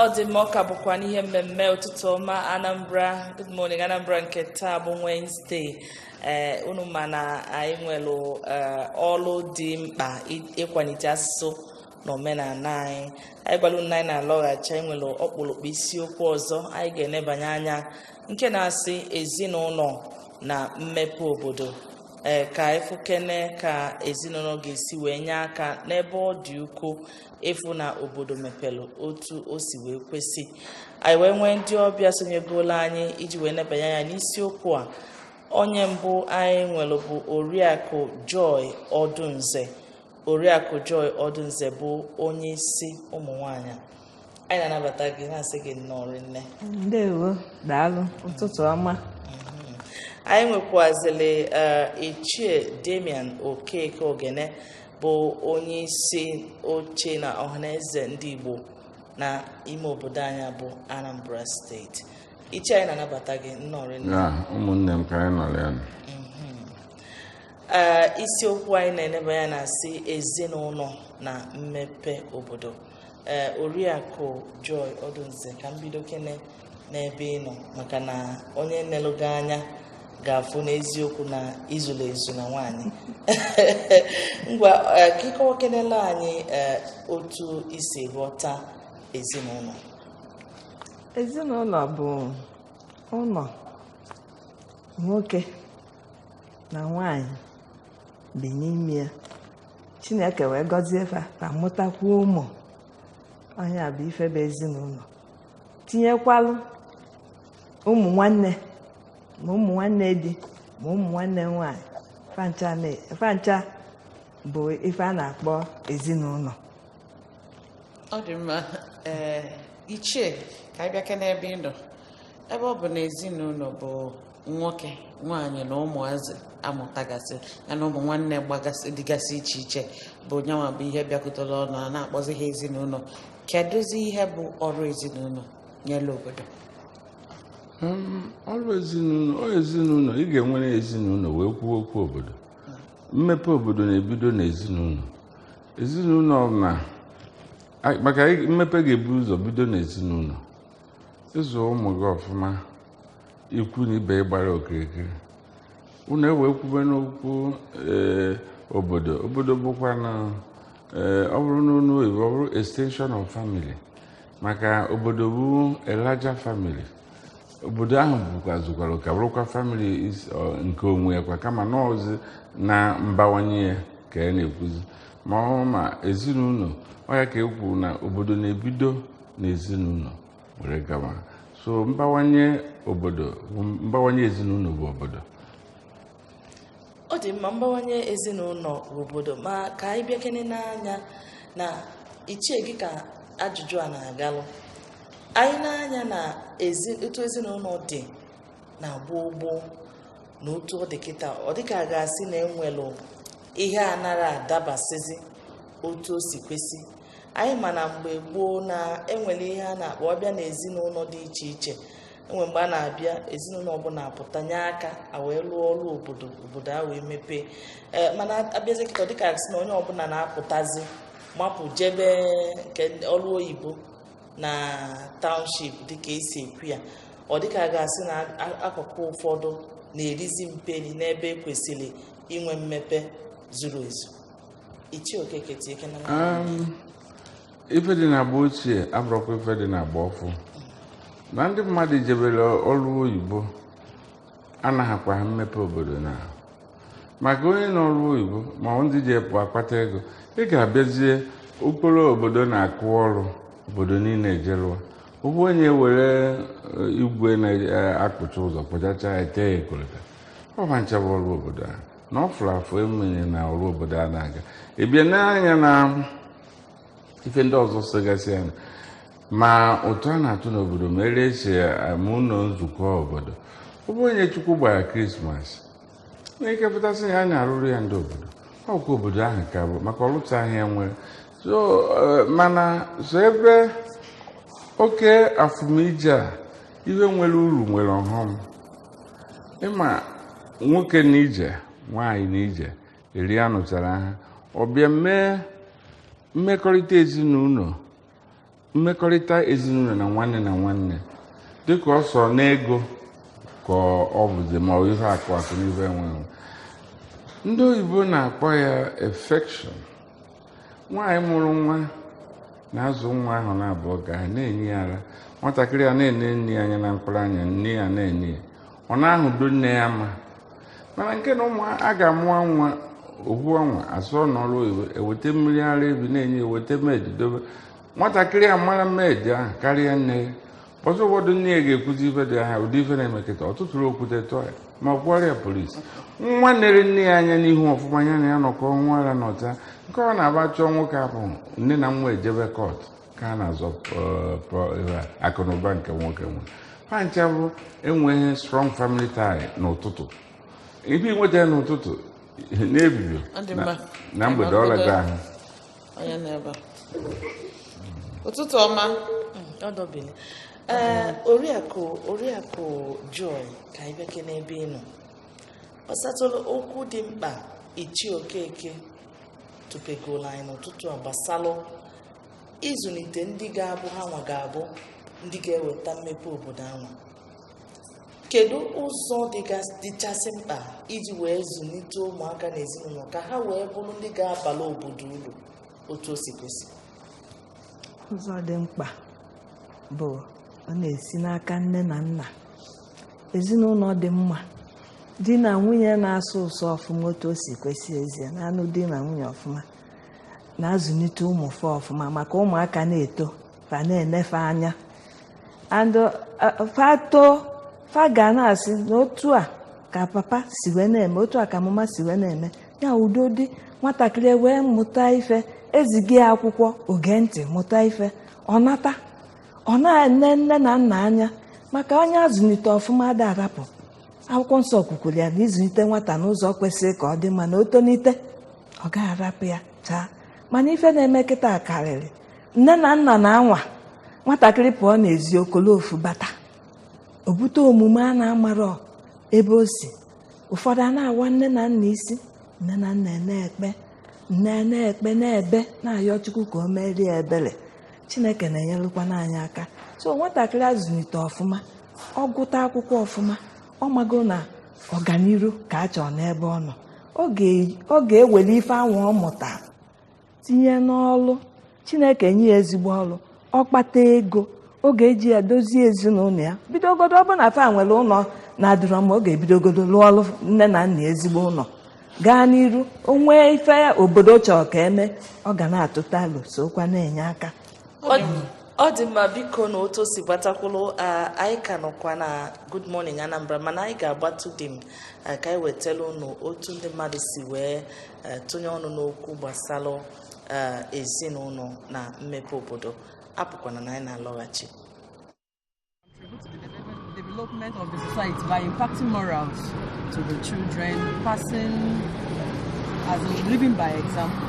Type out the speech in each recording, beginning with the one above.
ọ dị mma ọ ka bụkwa n'ihe mmemme ụtụtụ ọma anambra good morning anambra nke taa bụ wednesday ee unu ma na anyị nwere ọrụ dị mkpa ịkwalite asụsụ na omenala anyị anyị gwara unu anyị na-alọghachi anyị nwere ọkpụrụkpụ isiokwu ọzọ anyị ga-enebanye anya nke na-asị ezinụlọ na mmepe obodo ee ka a fụkene ka ezinụlọ ga-esi wee nye aka n'ebe ọ dị ukwuu ịfụ na obodo mepere otu o si wee kwesị anyị wee nwee ndị ọbịa sonyegolu anyị iji wee nebanye anya n'isiokwu a onye mbụ anyị nwere bụ oriakụ joy odunze Oriakụ Joy Odunze bụ onye isi ụmụ nwanyị a. anyị na-anabata gị na-asị gị nnọọ rinne ndewo daalụ ụtụtụ ọma anyị nwekwazili eh, ichie Damian Okeke Ogene bụ onye isi oche na ọhaneze ndị Igbo na ime obodo anyị bụ Anambra steeti ichie anyị na-anabata gị nnọọ rinne Ya, ụmụnne m ka anyị nọrọ ya nọ. ee isiokwu anyị na-eneba anya na-asị ezinụlọ na mmepe obodo ee oriakụ Joy Odunze ka m bidokene n'ebe ị nọ maka na onye nelu gị anya ga-afụ n'eziokwu na i zulu ezu na nwaanyị ngwa ee, ka ị kọwakenelụ anyị ee, otu i si ghọta ezinụlọ ezinụlọ bụ ụlọ nwoke na nwaanyị bi n'ime ya chineke wee gọzie fa fa amụtakwuo ụmụ ọ nya bụ ife bụ ezinụlọ tinyekwalụ ụmụ nwanne ma ụmụ nwanne di ma ụmụ nwanne nwaanyị fa ncha na- fa ncha bụ ife a na-akpọ ezinụlọ ọ dị mma ee ichie ka anyị bịake n'ebe ị nọ ebe ọ bụ na ezinụlọ bụ nwoke nwaanyị na ụmụazị a mụtagasị ya na ụmụ nwanne gbagasị dịgasị iche iche bụ nyanwa bụ ihe bịakọtara ọnụ a na-akpọzi ha ezinụlọ kedụzi ihe bụ ọrụ ezinụlọ nyere obodo hmm, ọrụ ezinụlọ ezinụlọ ị ga-enwere ezinụlọ wee kwuo okwu obodo mmepe obodo na-ebido n'ezinụlọ ezinụlọ na maka mmepe ga-ebu ụzọ bido n'ezinụlọ ịzụ ụmụ gị ọfụma ikwu na ibe gbara okirikiri unu ewee kwube n'okwu ee, obodo obodo bụkwa na ee, ọ bụrụ n'onu oyibo ọ bụrụ extension of family maka obodo bụ a larger family obodo ahụ bụkwa zukwara oke bụrụkwa family is- ọ, nke onwe ya kwa kama na ọzi na mbawanye ya ka a na-ekwuzi ma ọ ma ezinụlọ ọ ya ka e kwuru na obodo na-ebido na ezinụlọ were gawa so mbawanye obodo mbawanye ezinụlọ bụ obodo ọ dị mma mbawanye ezinụlọ bụ obodo ma ka anyị bịakene nee anya na ichie gị ka ajụjụ a na-agalụ anyị nee anya na otu ezinụlọ dị na gboo gboo na otu ọ dị kịta ọ dịka a ga-asị na enwelụ ihe a nara adabasịzi otu o si kwesị anyị ma na mgbe gboo na enwere ihe a na-akpọ ọbịa na ezinụlọ dị iche iche enwe mgbe a na-abịa ezinụlọ ọbụla apụta nye aka a wee lụọ ọrụ obodo obodo a wee mepee ee mana abịazi kịta ọ dịka a ga-asị na onye ọbụla na-apụtazi mapụ jebe nke ọrụ oyibo na township dịka esi ekwu ya ọ dịka a ga-asị na akụkụ ụfọdụ na-erizi mperi n'ebe e kwesịrị inwe mmepe zuru ezu ife dị na agba ochie abụrụkwa ife dị na agba ọfụ na ndị mmadụ jebere ọrụ oyibo anaghịkwa ha mmepe obodo na maka onye n'ọrụ oyibo ma ndị ji epụ akpata ego ị ga-abịazie okporo obodo na-akụ ọrụ obodo niile ejerụwa ugbua onye were eh, igwe na-akpụcha eh, ụzọ kpụchacha etee ya kolota ọba nchebe ọrụ obodo ahụ na ọ fụrụ afụ enweghị na ọrụ obodo a na-aga e bịa nee anya na ife ndị ọzọ sogasị ya ma ụtụ a na-atụ n'obodo ma ere esi ama ụlọ nzukọ obodo ọ bụ onye chukwu gbara krismas nwee ike pụta sị ya na ya arụrụ ya ndị obodo ọkwa obodo ahụ ka bụ maka ọlụta ahịa nwere so eh, mana so ebe oke afụmije a ihe nwere uru nwere ọghọm ị ma nwoke na ije nwaanyị na ije eri anụchara ha ọ bịa mee mmekọrịta ezinụlọ mmekọrịta ezinụlọ na nwanne na nwanne dịka ọ sọ n'ego ka ọ bụzi ma ọ ihe akụ akụ na ife enwe enwe ndị oyibo na-akpọ ya affection nwaanyị mụrụ nwa na-azụ nwa ahụ na-abụ ọ ga na-enye ya ara nwatakịrị a na-ene nne ya anya na mkpụrụ anya nne ya na-ene ya ọ na-ahụdo nne ya ama mana nke na-eme a ga-amụwa nwa ohu ọnwa asọọ n'ọrụ oyibo eweta mmiri ara efi na-enye eweta maid dobe nwatakịrị a mara maid ahụ karịa nne ya ọzọ ụfọdụ nne ya ga-ekwuzi ife dị ha ụdị ife na-eme kịta ọ tụtụrụ okwute tụọ ya ma kpọrọ ya polisi nwa nere nne ya anya n'ihu ọfụma ya na ya nọkọ nwa ara n'ọta nke ọ na-agba chọọ nwoke ahụ nne na nwa ejebe kọt ka a na-azọ akụnụba nke nwoke nwe fa ncha bụ enweghị strong family tie n'ụtụtụ ife i nweta ya n'ụtụtụ na-ebibi na mgbede ọlaga ahụ onye nọ ebe a ụtụtụ ọma ọ dọbili ee oriakụ oriakụ joy ka anyị bịakene ebe ị nọ gbasatụrụ okwu dị mkpa ichie okeke tụpegoro anyị n'ụtụtụ a gbasalụ ịzụlite ndị ga-abụ ha nwa ga-abụ ndị ga-eweta mmepe obodo anwa Kedu ụzọ dịgas- dịchasị mkpa iji wee zụlite ụmụaka na ezinụlọ ka ha wee bụrụ ndị ga-abara obodo uru otu o si kwesị? ụzọ dị mkpa bụ ọ na-esi n'aka nne na nna ezinụlọ dị mma di na nwunye na-asọ ụsọ ọfụma otu o si kwesị ezie na-anụ di na nwunye ọfụma na-azụlite ụmụ fa ọfụma maka ụmụaka na-eto fa na-ene fa anya and fa too fa ga na-asị na otu a ka papa si wee na-eme otu a ka mama si wee na-eme ya udo dị nwatakịrị wee mụta ife eziga ya akwụkwọ o gee ntị mụta ife ọ nata ọ na-ene nne na nna anya maka onye azụlite ọfụma ada arapụ akwụkwọ nsọ kwukwuru ya na ị zụlite nwata n'ụzọ kwesịrị ka ọ dị mma na o tolite ọ gaghị arapụ ya chaa mana ife na-eme kịta karịrị nne na nna na-anwa nwatakịrị pụọ n'ezi o kolo ofu bata o bute omume a na-amarọ ebe o si ụfọdụ a na-awa nne na nna isi nne na nna na-ekpe nne na-ekpe na-ebe na-ayọ chukwu ka o meere ebere chineke na-enyelụkwana anyị aka so nwatakịrị azụlite ọfụma ọ gụta akwụkwọ ọfụma ọ mago na ọganiru ka a chọrọ n'ebe ọ nọ ọ ga- ọ ga-ewere ife anwa ọ mụta tinye n'ọlụ chineke nye ya ezigbo ọlụ ọ kpata ego ọ ga-eji ya dozie ezinụlọ ya bidogodo ọ bụ na fa nwere ụlọ na-adịrọ mma ọ ga-ebidogodo lụọlụ nne na nna ezigbo ụlọ gaa n'iru o nwee ife obodo chọrọ ka e mee ọ ga na-atụta alo sokwa na-enye aka ọ dị mma biko na otu o si gbata kwụrụ anyị ka nọkwa na Good Morning Anambra mana anyị ga-agbatu dị m Eh, ka anyị wetara unu otu ndị mmadụ si wee eh, tụnye ọnụ n'okwu gbasara eh, ezinụlọ na mmepe obodo apụkwana na anyị na-alọghachi development of the society by impacting morals to the children, passing as in living by example.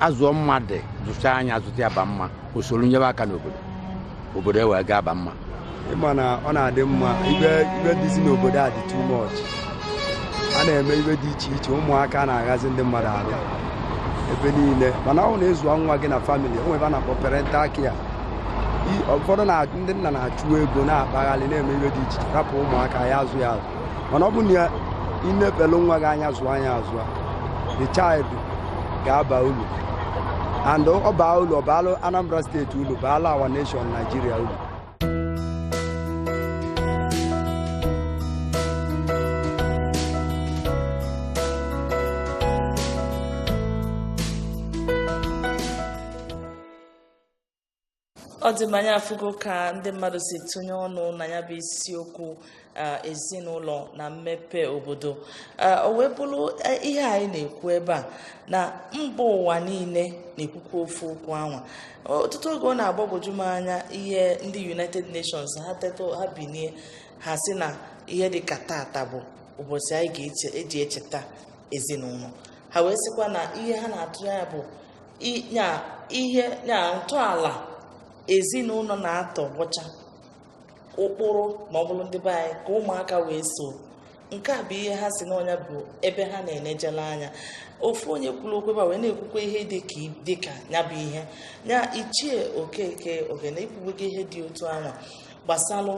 a zụọ mmadụ zụchaa nya azụta ya ba mma o solu nyebe aka n'obodo obodo e wee gaba mma ị ma na ọ na-adị mma ife dịzi n'obodo a dị too much a na-eme ife dị iche iche ụmụaka na-aghọzi ndị mmadụ afịa ebe niile mana ọ bụ na ị zụọ nwa gị na family o nwe ife a na-akpọ parental care I- ụfọdụ na ndị nna na-achụ ego na-akpaghalị na-eme ife dị iche iche rapụ ụmụaka ya azụ ya azụ mana ọ bụ na i nebelu nwa gị anya zụọ nya azụ the child ga-aba ulu and ọ baa ulu ọ baalụ Anambra steeti ulu baalụ our nation Nigeria ulu ọ dị mma anyị afụgo ka ndị mmadụ si tụnye ọnụ na ya bụ isiokwu ezinụlọ na mmepe obodo o wee bụrụ e, ihe anyị na-ekwu ebe a na mba ụwa niile na-ekwukwa ofu okwu anwa ọtụtụ oge ọ na-agbagwoju m anya ihe ndị United Nations ha teta ha binie ha sị na ihe dị ka tata bụ ụbọchị anyị ga-eji echeta ezinụlọ ha wee sịkwa na ihe ha na-atụ anya bụ na ihe na ntọala ezinụlọ na-atọ bụcha ụkpụrụ ma ọ bụrụ ndị be anyị ka ụmụaka wee so nke a bụ ihe ha sị na ọ nya bụ ebe ha na-enejela anya ofu onye kwuru okwu ebe wee na-ekwukwa ihe dị ka ya bụ ihe ya ichie okeke ogene i kwubugo ihe dị otu anwa gbasalụ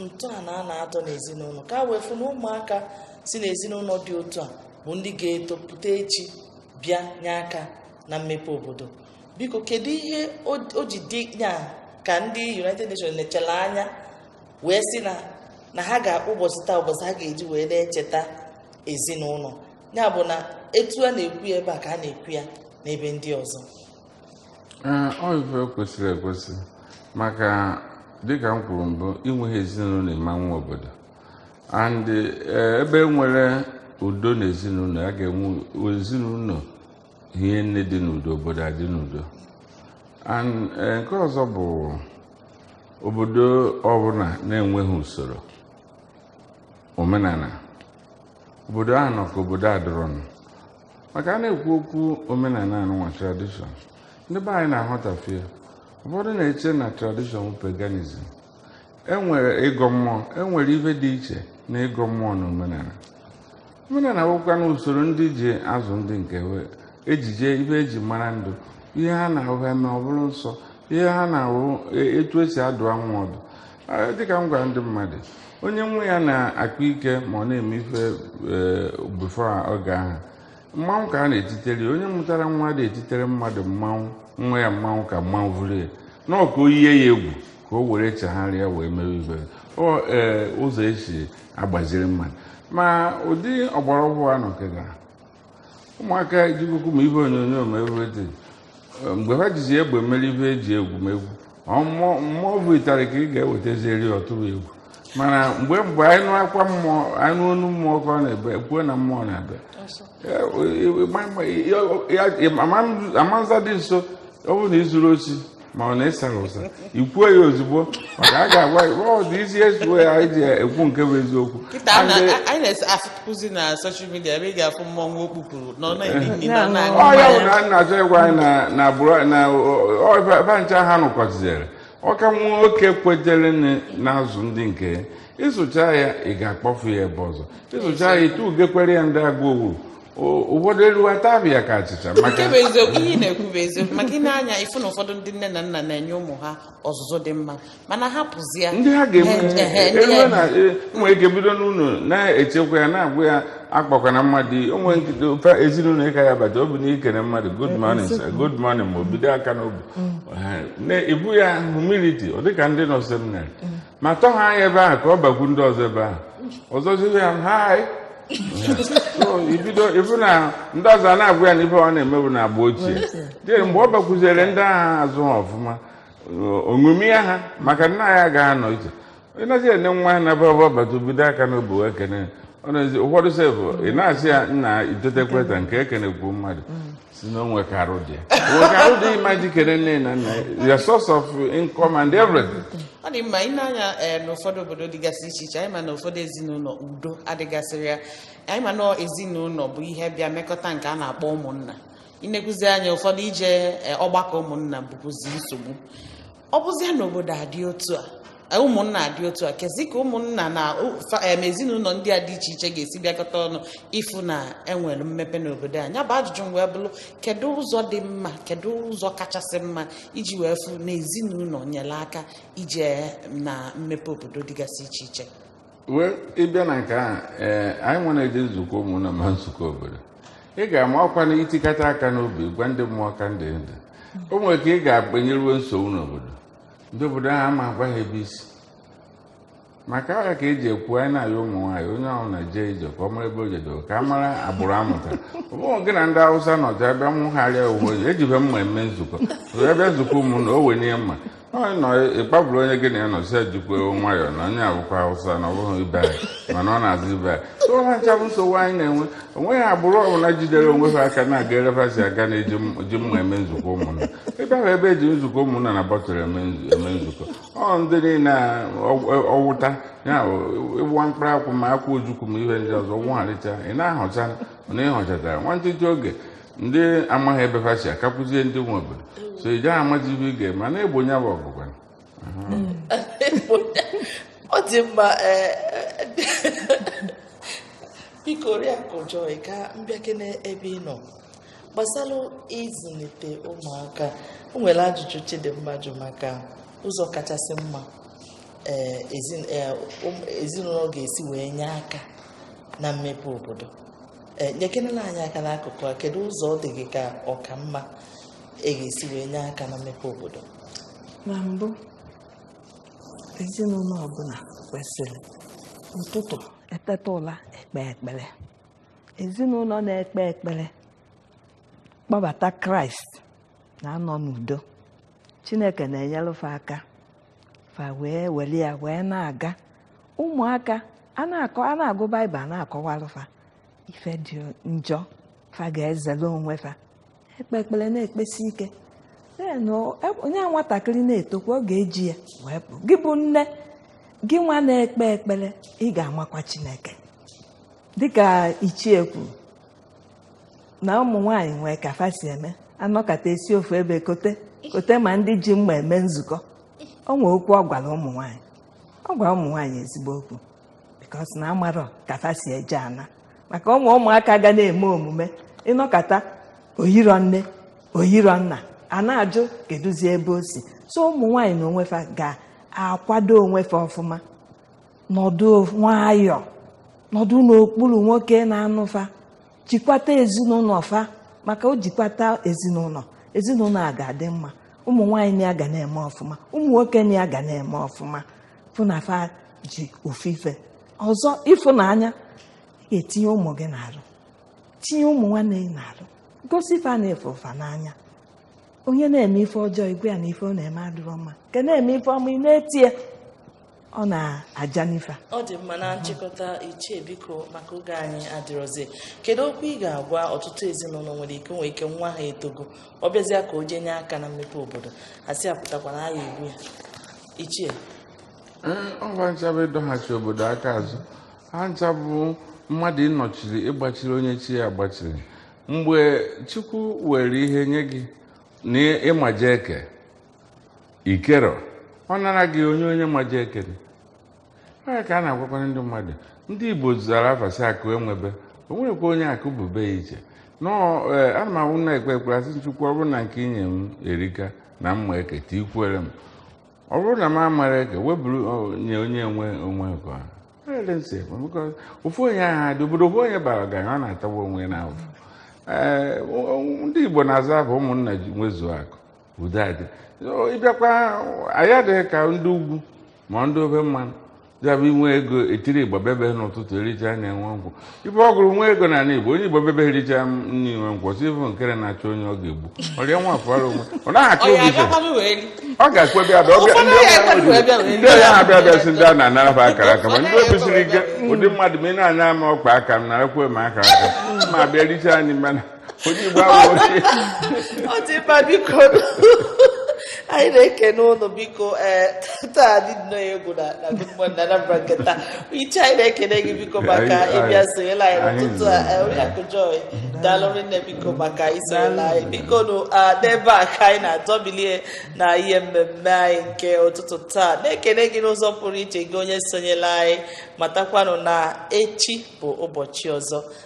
ntọala a na-atọ n'ezinụlọ ka a wee fụ na ụmụaka si n'ezinụlọ dị otu a bụ ndị ga-etopụta echi bịa nye aka na mmepe obodo biko kedu ihe o ji dị ya ka ndị United Nations nechalụ anya wee sị na na ha ga-akpọ ụbọchị taa ụbọchị ha ga-eji wee na-echeta ezinụlọ ya bụ na etu a na-ekwu ya ebe a ka a na-ekwu ya n'ebe ndị ọzọ ọ ife kwesịrị ekwesị maka dịka m kwuru mbụ i nweghị ezinụlọ a ma-enwe obodo and eh, ebe e nwere udo na ezinụlọ a ga-enwe ezinụlọ hie nne dị n'udo obodo adị n'udo and eh, nke ọzọ bụ obodo ọbụla na-enweghị usoro omenala obodo ahụ nọ ka obodo adịrọ ndụ maka a na-ekwu okwu omenala anụnwa tradition ndị be anyị na-aghọtafie ụfọdụ na-eche na tradition bụ paganism enwere ịgọ mmụọ enwere ife dị iche na ịgọ mmụọ na omenala omenala bụkwa na usoro ndị ji azụ ndị nke ejije ife eji mara ndụ ihe ha na-ahụ ha mee ọ bụrụ nsọ ihe ha na-ahụ e, etu esi adụ nwa ọdụ dịka m gwara ndị mmadụ onye nwa ya na-akpa ike ma ọ na-eme ife e, bifo oge ahụ mmanwụ ka a na-etitere onye mụtara nwa dị etitere mmadụ mmanwụ nwa ya mmanwụ ka mmanwụ vụrụ ya na ọka o yiye ya egwu ka o were chegharịa wee mewe ife ee ụzọ esi agbaziri mmadụ ma ụdị ọgbara ọhụrụ a nọ kịta ụmụaka ejikụkụ ma ife onyonyo ma everything mgbe ha jizi egbe mere ife eji egwumegwu mmụọ bu ịtarị ka ị ga-ewetazieri ọ tụrụ egwu mana mgbe mgbe anyị nụ akwa mmụọ anyị nụ onu mmụọ ka ọ na-ebe ekwuo na mmụọ na-abịa amanza dị nso ọ bụrụ na izuru osi ma ọ na ịsara ụsa ikwuo ya ozugbo maka a ga-agwa ọdụ isi ezuo ya anyị ji ekwu nke bụ eziokwu kịta a na- a- anyị na-afụzi na soshal midia ebe ị ga-afụ mmọnwụ o kpupụrụ nọ na-eri nri nọ na-aṅụ ọ ya bụ mmanya. na m na-achọ ịgwa anyị na na agbụrụ na bancha ha nụkọtizere ọka nwa nwoke kwetere nne na-azụ ndị nke ya ịzụcha ya ị ga-akpọfu ya ebe ọzọ ịzụcha ya ịtụ ugekwere ya ndị agụ owuru ụfọdụ eruwa tabie ya ka achịcha nke bụ eziokwu ihe ị na-ekwu bụ eziokwu maka ịne anya ịfụ na ụfọdụ ndị nne na nna na-enye ụmụ ha ọzụzụ dị mma mana ha pụzia ndị ha ga-enwe na enwere ike bido n'ụlọ na-echekwa ya na-agwa ya akpakwana mmadụ onwe nkịta ofe ezinụlọ ịka ya bata obi na-ekene mmadụ good morning sir good morning ma o bido aka n'obi mm. ibu ya humility ọ dịka ndị nọ seminarị mm. ma tọha ya ebe ahụ ka ọ bakwu ndị ọzọ ebe ahụ ọzọziwe ya ha ibido ịfụ na ndị ọzọ a na-agwa ya na ife ọ na-emebu na agba ochie dị mgbe ọ bakwuziere ndị aha azụ ha ọfụma o ṅomia ha maka nna ya ga-anọ iche ịnazi ene nwa ya na-abụ ọ bata bido aka n'obi ekene ụfọdụ sefụ ị na-asị ya nna itetekweta nke ekenekwu mmadụ sị na o nwe ka arụ dị o nwe ka arụ dị ịma jikere nne na nna your source of income and everything ọ dị mma ịne anya eh, n'ụfọdụ obodo dịgasị iche iche anyị ma na ụfọdụ ezinụlọ udo adịgasịrị ya anyị ma na ezinụlọ bụ ihe bịa mekọta nke a na-akpọ ụmụnna inekwuzi anya ụfọdụ ije eh, ọgbakọ ụmụnna bụkwuzi nsogbu ọ bụzia na obodo adị otu a e, ụmụnna adị otu a kezi ka ụmụnna na ezinụlọ ndị a dị iche iche ga-esi bịakọta ọnụ ịfụ na enwere mmepe n'obodo anyị ya bụ ajụjụ m wee bụrụ kedu ụzọ dị mma kedu ụzọ kachasị mma iji wee fụ na ezinụlọ nyere aka ije na mmepe obodo dịgasị iche iche wee ịbịa na nke ahụ ee anyị nwere eje nzukọ ụmụnna ma nzukọ obodo ị ga-amakwa na i tikata aka n'obi gwa ndị mmụọ ka ndị ndụ o nwere ka ị ga-akpanyeruo nsogbu n'obodo ndị obodo ahụ ama agwa ha ebe i si maka ya ka eji ekwu anyị na-ayọ ụmụ nwaanyị onye ahụ na-eje ije ka ọ mara ebe o jedoro ka a mara agbụrụ amụta ọ bụghị gị na ndị awụsa nọ jee bịa nwụgharịa uwe ejibe mma eme nzukọ wee bịa nzukọ ụmụnna o wenye mma Ọ nọ ịkpaburu onye gị na ya nọ sị ejikwa nwayọọ na onye a bụkwa Hausa na ọ bụghị ibe anyị mana ọ na-azụ ibe anyị so ha ncha bụ nsogbu anyị na-enwe onweghị agbụrụ ọbụla jidere onwe ha aka na-aga ere fa si aga na eji m- ji mma eme nzukọ ụmụnna ebe ahụ ebe eji nzukọ ụmụnna na bọtụlụ eme nzu- eme nzukọ ọ ndị niile a ọ- ọwụta ya bụ ịwụwa mkpụrụ akwụ ma akwụ ojukwu ma ihe ndị ọzọ wụgharịcha ị na-ahọcha na ị họchatara nwantịtị oge ndị amaghị ebe fa si akakwuzie ndị nwe obodo so ị gaghị amazi ihe ị ga-eme a na-egbo nya bụ ọgụ ngwa ọ dị mma ee, biko oriakụ joy ka m bịakene ebe ị nọ gbasara ịzụlite ụmụaka o nwere ajụjụ chidimma jụ maka ụzọ kachasị mma ee, ezi- ee, ụm- ezinụlọ ga-esi wee nye aka na mmepe obodo e, nyekenelụ anyị aka n'akụkụ a kedu ụzọ ọ dị gị ka ọ ka mma a ga-esi wee nye aka na mmepe obodo na mbụ ezinụlọ ọbụla kwesịrị ụtụtụ e teta ụla ekpe ekpere ezinụlọ na-ekpe ekpere kpọbata kraịst na-anọ n'udo chineke na-enyere fa aka fa wee were ya wee na-aga ụmụaka a na-akọ a na-agụ baịbụl a na-akọwalụ fa ife dị njọ fa ga-ezere onwe fa ekpe ekpere na-ekpesi ike then o- e- onye a nwatakịrị na-etokwa ọ ga-eji ya wee pụ gị bụ nne gịnwa na-ekpe ekpere ị ga-amakwa chineke dịka ichie kwuru na ụmụ nwaanyị nwee ka fa si eme a nọkata esi ofu ebe kote kote ma ndị ji mma eme nzukọ o nwee okwu ọ gwara ụmụ nwaanyị ọ gwara ụmụ nwaanyị ezigbo okwu because na amarọ ka fa si eje ana maka ụmụ ụmụaka ga na-eme omume ị nọkata o yiro nne o yiro nna a na-ajụ keduzi ebe o si so ụmụ nwaanyị na onwe fa ga-akwado onwe fa ọfụma nọdụ nwayọọ nọdụ n'okpuru nwoke na-anụ fa jikwata ezinụlọ fa maka o jikwata ezinụlọ ezinụlọ a ga-adị mma ụmụ nwaanyị na ya ga na-eme ọfụma ụmụ nwoke na ya ga na-eme ọfụma fụ na fa ji ofu ife ọzọ ịfụnanya ị ga-etinye ụmụ gị n'arụ tinye ụmụ nwanne gị n'arụ gosi fa na ị fụ fa n'anya onye na-eme ife ọjọọ ị gwa ya na ife ọ na-eme adịrọ mma nke na-eme ife ọma ị na-eto ya ọ na-aja n'ife ọ dị mma na nchịkọta ichie biko maka oge anyị adịrọzi kedu okwu ị ga-agwa ọtụtụ ezinụlọ nwere ike o nwee ike nwa ha etogo ọ bịazịa ka o jee nye aka na mmepe obodo a sị apụtakwana a ga-egbu ya ichie ọ bụ ha ncha bụ ịdọghachi obodo aka azụ ha ncha bụ mmadụ ịnọchiri ịgbachiri onye chi ya gbachiri mgbe chukwu were ihe nye gị na ị maje eke i kerọ ọ nara gị nye onye maje eke onye ka a na-agwakwara ndị mmadụ ndị igbo zara afa sị akụ enwebe o nwerọkwa onye akụ bu be ya iche nọọ ee ana m awụ na-ekpe ekpere a sị chukwu ọ bụrụ na nke i nye m erika na mma eketa ikwere m ọ bụrụ na m amarọ eke weburu ọ, nye onye enwe onwe nke ọha Ele nsị ekwe, because ofu onye ahụ adị obodo ofu onye bara ọgaranya ọ na-atagbu onwe ya n'ahụ ee o- o- ndị igbo na-aza afa ụmụnna nwezuo akụ udo adị ị bịakwa anyị adịghị ka ndị ugwu ma ndị ofe mmanụ ya bụ i nwee ego etiri igbo bebe n'ụtụtụ ericha na enwe nkwụ ibe ọ gụrụ nwa ego na ala igbo onye igbo bebe ericha nri nwe nkwụ si bụ nkere na-achọ onye ọ ga-egbu ọrịa nwa afọrọ onwe ọ naghị achọ obi ife ọ ga-ekwe bịa bịa ọbịa ndị ọbịa ha bịa bịa si ndị a na-anara ha akara aka ma ndị obi siri ike ụdị mmadụ ma ị na-anya ama ọkpa aka m narakwa m akara aka ma bịa richa anyị mana onye Igbo awụghị ọ dị mma biko anyị na-ekene unu biko ee taa dị nnọọ egwu na na Good Morning Anambra nke taa ichie anyị na-ekene gị biko maka Anyị- anyị- ịbịa sonyela anyị n'ụtụtụ a nọ. ee, Oriakụ Joy daalụ rinne biko maka isonyela anyị bikonụ ah, n'ebe a ka anyị na-adọbilie na ihe mmemme anyị nke ụtụtụ taa na-ekene gị n'ụzọ pụrụ iche gị onye sonyela anyị matakwanụ na echi bụ ụbọchị ọzọ